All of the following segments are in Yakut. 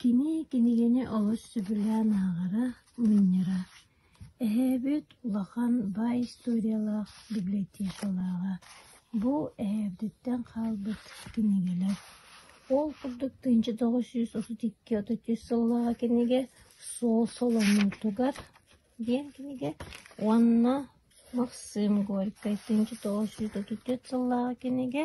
Кини кинигэни олус сөбүлээн ааҕара, мунньара. Эһээбит улахан баай историялаах библиотекалааҕа. Бу эһээбититтэн хаалбыт кинигэлэр. Ол курдук тыынча тоҕус сүүс отут икки отут үс сыллааҕы кинигэ «Суол солоҥуутугар» диэн кинигэ уонна «Максим Горькай тыынча тоҕус сүүс отут үс сыллааҕы кинигэ»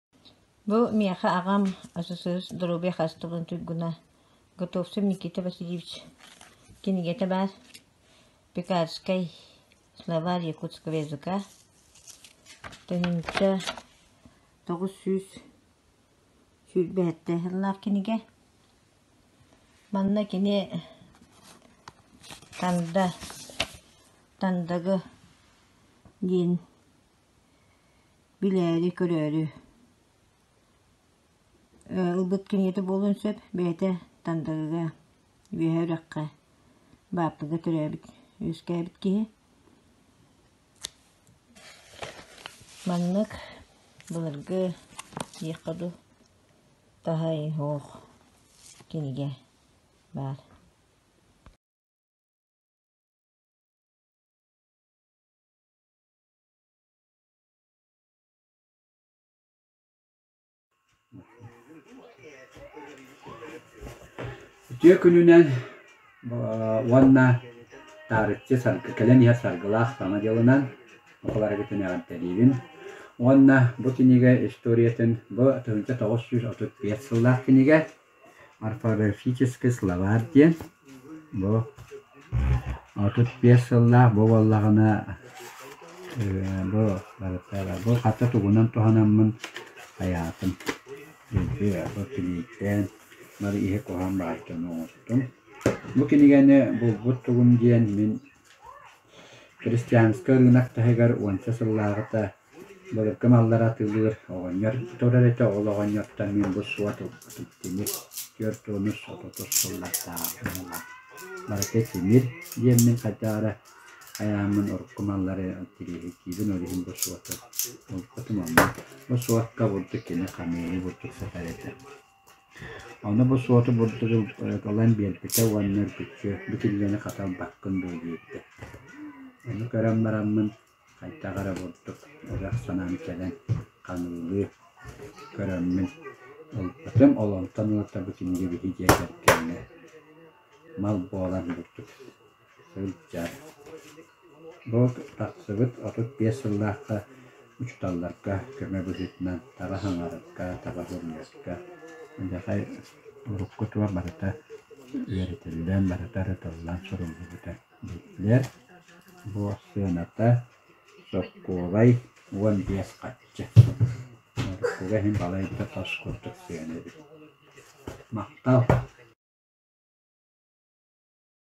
Бу миэхэ аҕам СССР доруобуйа хаачыстыбатын туйгуна Готовцев Никита Васильевич кинигэтэ баар Пекарскай словарь якутского языка төнүнтэ тоҕус сүүс сүүрбэһэттэй сыллаах кинигэ. Манна кини Танда Тандагы диэн билээри-көрөөрү ылбыт кинигэтэ буолуон сөп бэйэтэ Тандагыга Үөһээ Үрэххэ Бааппыга төрөөбүт үөскээбит киһи маннык былыргы диэххэ дуу таһай оһох кинигэ баар Үтүө күнүнэн уонна таарыччы саргы, кэлэн иһэр саргылаах саҥа дьылынан барыгытын эҕэрдэлиибин уонна бу кинигэ историятын бу тыһыынча тоҕус сүүс отут биэс сыллаах кинигэ Орфографический словарь диэн бу отут биэс сыллаах бу буоллаҕына э, бу бу хата тугунан туһанаммын айаатым. Бу киниттэн бары иһи куһан баартан оҥостум. Бу кинигэни булбут тугум диэн мин Христианскай ырыынак таһыгар уонча сыллааҕыта былыргы маллары атыылыыр оҕонньор турар этэ. Ол оҕонньортон мин бу суот ылбытым тимир түөрт уон үс отутус сыллардаах муҥа. Барыта тимир диэммин хайдаара айааммын урукку маллары тириэһиргиибин, ол иһин бу суоту ылбытым. Онно бу суокка бурдук кини хамыыһый бурдук сытар этэ. Ону бу суоту бурдук ылан биэрбитэ уонна үргүччү битиллэни хата ылбаккын дуо диэбитэ. Ону көрөн бараммын хайдах эрэ бурдук ырах санаам кэлэн хаҥыылыы көрөммүн ылбытым. Олонтон ыла бу кинигэбиһи дьиэтигэр кэннэ мал буолан бурдук сылдьар. Бу тахсыбыт отут биэс сыллаахха учууталларга көмө быһыытынан таба хаҥарарга, таба хомуйарга эдэрхай уруккутугар барыта үөрэтиллэн, барыта ырытыллан суруллубута биллэр. Бу сыаната сокуолай уон биэс хачча. Уруккуга иһин балайда тос курдук сыана эбит. Махтал!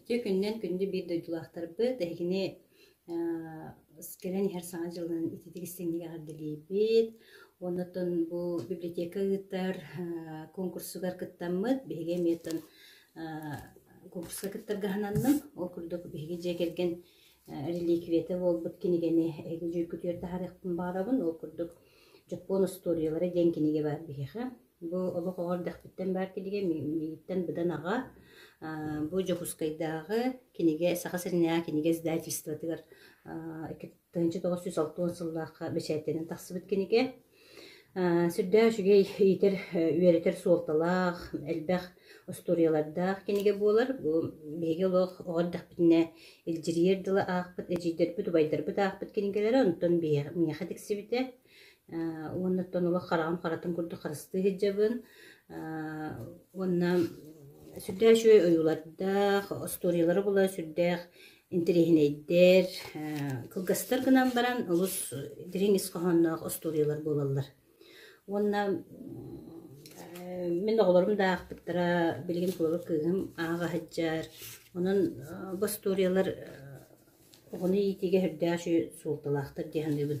Ити күннэн күндү биир дойдулаахтарбыт эһигини кэлэн иһэр саҥа дьылын ититик истиҥник эҕэрдэлиибит. Оннотон бу библиотека ыытар конкурсугар кыттаммыт. Биһиги эмиэтин конкурска кыттарга сананным. Ол курдук биһиги дьиэ кэргэн реликвиятэ буолбут кинигэни эһиги дьүүлгүтүгэр таһаарыахпын баҕарабын. Ол курдук Дьоппуон устуоруйалара диэн кинигэ баар биһиэхэ. Бу олох оҕо эрдэхпиттэн баар кинигэ миигиттэн быдан аҕа. Бу Дьокуускайдааҕы кинигэ Саха сиринээҕи кинигэ издательствотыгар тыһыынча тоҕус сүүс алтыан сыллаахха бэчээттэнэн тахсыбыт кинигэ. Сүрдээх үчүгэй иитэр, үөрэтэр суолталаах, элбэх устуоруйалардаах кинигэ буолар. Бу биһиги олох оҕо эрдэхпитинэ илдьирийэр дылы аахпыт, эдьиийдэрбит, убайдарбыт аахпыт кинигэлэрэ, онтон миэхэ тиксибитэ. уоннаттан олох хараҕым харатым курдук харыстыы сылдьабын. уонна сүрдээх үчүгэй ойуулардаах, остуоруйалара буолар сүрдээх интэриэһинэйдэр, кылгастар гынан баран олус дириҥ ис хоһоонноох остуоруйалар буолаллар. Уонна мин оҕолорум да аахпыттара билигин толору кыыһым ааҕа сылдьар. Онон бу остуоруйалар оҕону иитиигэ сүрдээх үчүгэй суолталаахтар дии саныыбын.